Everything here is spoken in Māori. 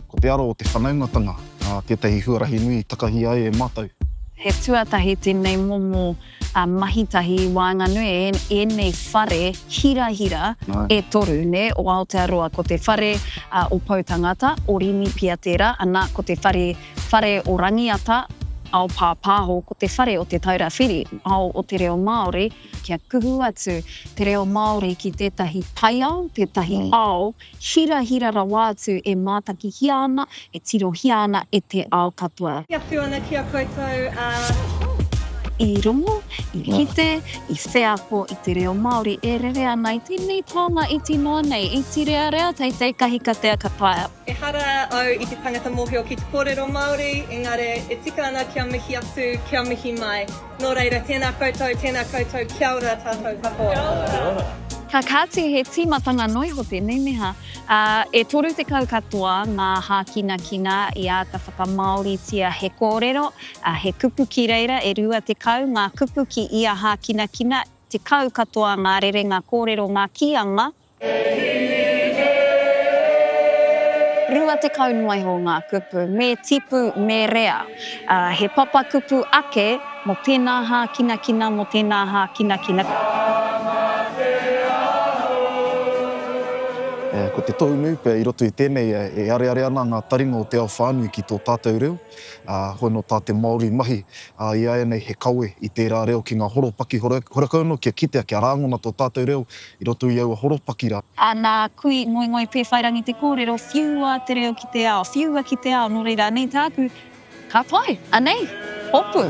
Ko te aro o te whanaungatanga tētahi huarahi nui i takahi ai e mātou. He tuatahi tēnei momo mahi tahi i waenganui i ēnei whare hirahira e toru o Aotearoa. Ko te whare o Pou Tangata, o Rimi pia tērā, ana, ko te whare o Rangiata, ao pāpāho, ko te whare o Te Taura Whiri, ao o te reo Māori, kia kuhu atu te reo Māori ki tētahi taiao, tētahi ao. hirahira rawa atu e mātakihia ana, e tirohia ana e te ao katoa. Kia whiu ana ki a koutou a. I rongo, i kite, i wheako i te reo Māori e rere ana i tēnei taonga iti noa nei, iti rearea, teitei kahikatea ka taea. Ehara au i te tangata mōhio ki te kōrero Māori, engare e tika ana kia mihi atu, kia mihi mai. Nō reira, tēnā koutou, tēnā koutou, kia ora tātou katoa. Kia ora. Ka kāti he tīmatanga noa iho tēnei, nē hā? Ā, e 30 katoa ngā hākinakina i āta whakamāoritia he kōrero, ā, he kupu ki reira, e 20 ngā kupu ki ia hākinakina, 10 katoa ngā rerenga kōrero, ngā kīanga, Rua tekau noa iho ngā kupu me tipu, me rea. He papakupu ake mō tēnā hākinakina, mō tēnā hākinakina. Ko te tohu nui pea i roto i tēnei, e areare ana ngā taringa o te ao whānui ki tō tātou reo, hoi nō tā te Māori mahi i āianei he kawe i tērā reo ki ngā horopaki horekau noa kia kitea, kia rāngona tō tātou reo I roto i aua horopaki rā. Ā, nā, kui, ngoingoi, pēwhairangi te kōrero, whiua te reo ki te ao, whiua ki te ao, nō reira, anei tāku. Ka pai, anei, hopu.